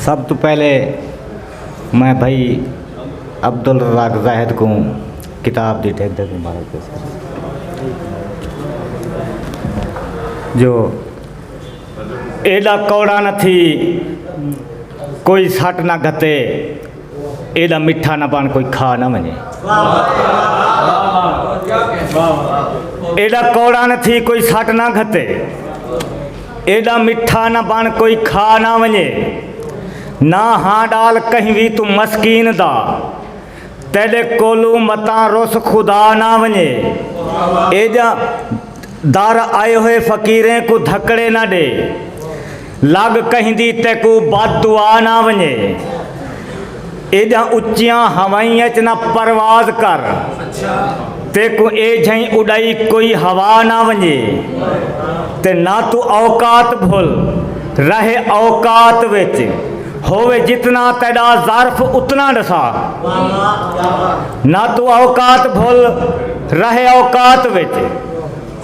سب توں پہلے میں بھائی عبدالرزاق زاہد کوں کتاب دی ٹھیک ٹھیک مبارک پیش کروں جو ایڈا کوڑا نہ تھی کوئی سٹ نہ گھتے ایڈا مٹھا نہ پان کوئی کھا نہ ونجے ایڈا کوڑا نہ تھی کوئی سٹ نہ گھتے ایڈا مٹھا نہ پان کوئی کھا نہ ونجے نہ ہاں ڈال کہیں بھی تو مسکین دا تیڈے کولو متاں رس خدا نہ ونجے ایڈا دار آئے ہوئے فقیریں کو دھکڑے نہ دے لگ کہندی تیکوں بد دعا نہ ونجے۔ ایڈیاں اچیاں ہوائیں اچ نہ پرواز کر۔ تیکوں اے جھئیں اڈائی کوئی ہوا نہ ونجے۔ تے نہ توں اوقات بھل۔ رہے اوقات وچ۔ ہووے جتنا تیڈا ظرف اتنا ڈسا۔ نہ توں اوقات بھل۔ رہے اوقات وچ۔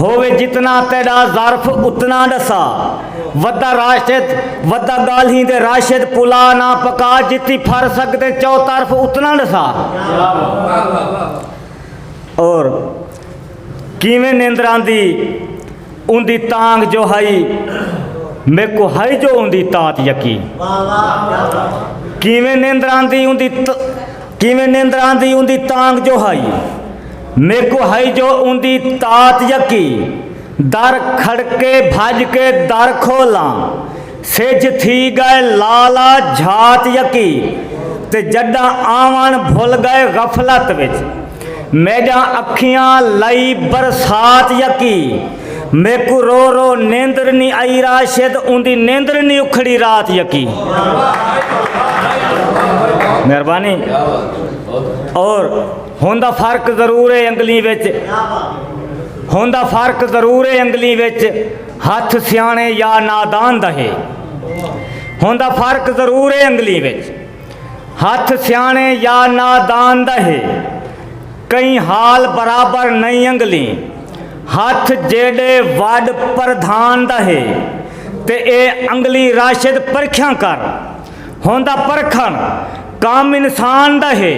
ہووے جتنا تیڈا ظرف اتنا ڈسا ودا راشد ودا گالھیں دے راشد پلا نا پکا جتی پھر سکدیں چو طرف اتنا ڈسا اور کیویں نیندران دی ان دی تانگ جو ہائی میکو ہائی جو ان دی تات یقی کیویں نیندران دی ان دی کیویں نیندران دی ان دی تانگ جو ہائی میکوں ہئی جو اوندی تات یکی۔ در کھڑکے بھڄ کے در کھولاں۔ سجھ تھی ڳئے لال آ جھات یکی۔ تے جݙاں آوݨ بھل ڳئے غفلت وچ۔ میݙاں اکھیاں لئی برسات یکی۔ میکوں رو رو نیندر نی ائی راشد اوندی نیندر نی اکھڑی رات یکی۔ مہربانی اور ہن دا فرق ضرور اے انگلیں وچ ہن دا فرق ضرور اے انگلیں وچ ہتھ سیانے یا نادان دا ہے ہن دا فرق ضرور اے انگلیں وچ ہتھ سیانے یا نادان دا ہے کئی حال برابر نہیں انگلیں ہتھ جیڈے وڈ پردھان دا ہے تے اے انگلیں راشد پرکھیاں کر ہوندا پرکھن کم انسان دا ہے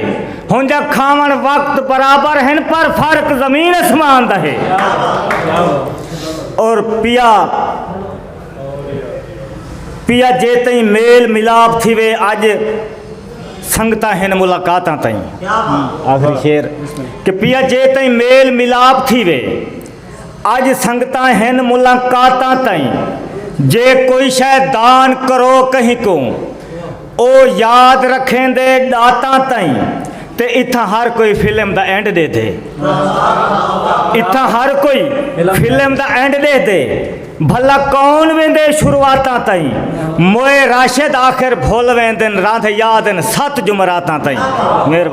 ہونجا کھاون وقت برابر ہیں پر فرق زمین اسمان دا ہے اور پیا پیا جے تئیں میل ملاپ تھی وے اج سنگتاں ہیں ملاقاتاں تئیں آخری شیر کہ پیا جے تئیں میل ملاپ تھی وے اج سنگتاں ہن ملاقاتاں تئیں جے کوئی شے دان کرو کہیں کوں او یاد رکھیندے ڈاتاں تئیں تے اتھاں ہر کوئی فلم دا اینڈ ڈیدھے اتھاں ہر کوئی فلم دا اینڈ ڈیدھے بھلا کون ویندے شروعاتاں تئیں موئے راشد آخر بھول ویندن راندھ یادن ست جمراتاں تئیں مہربانی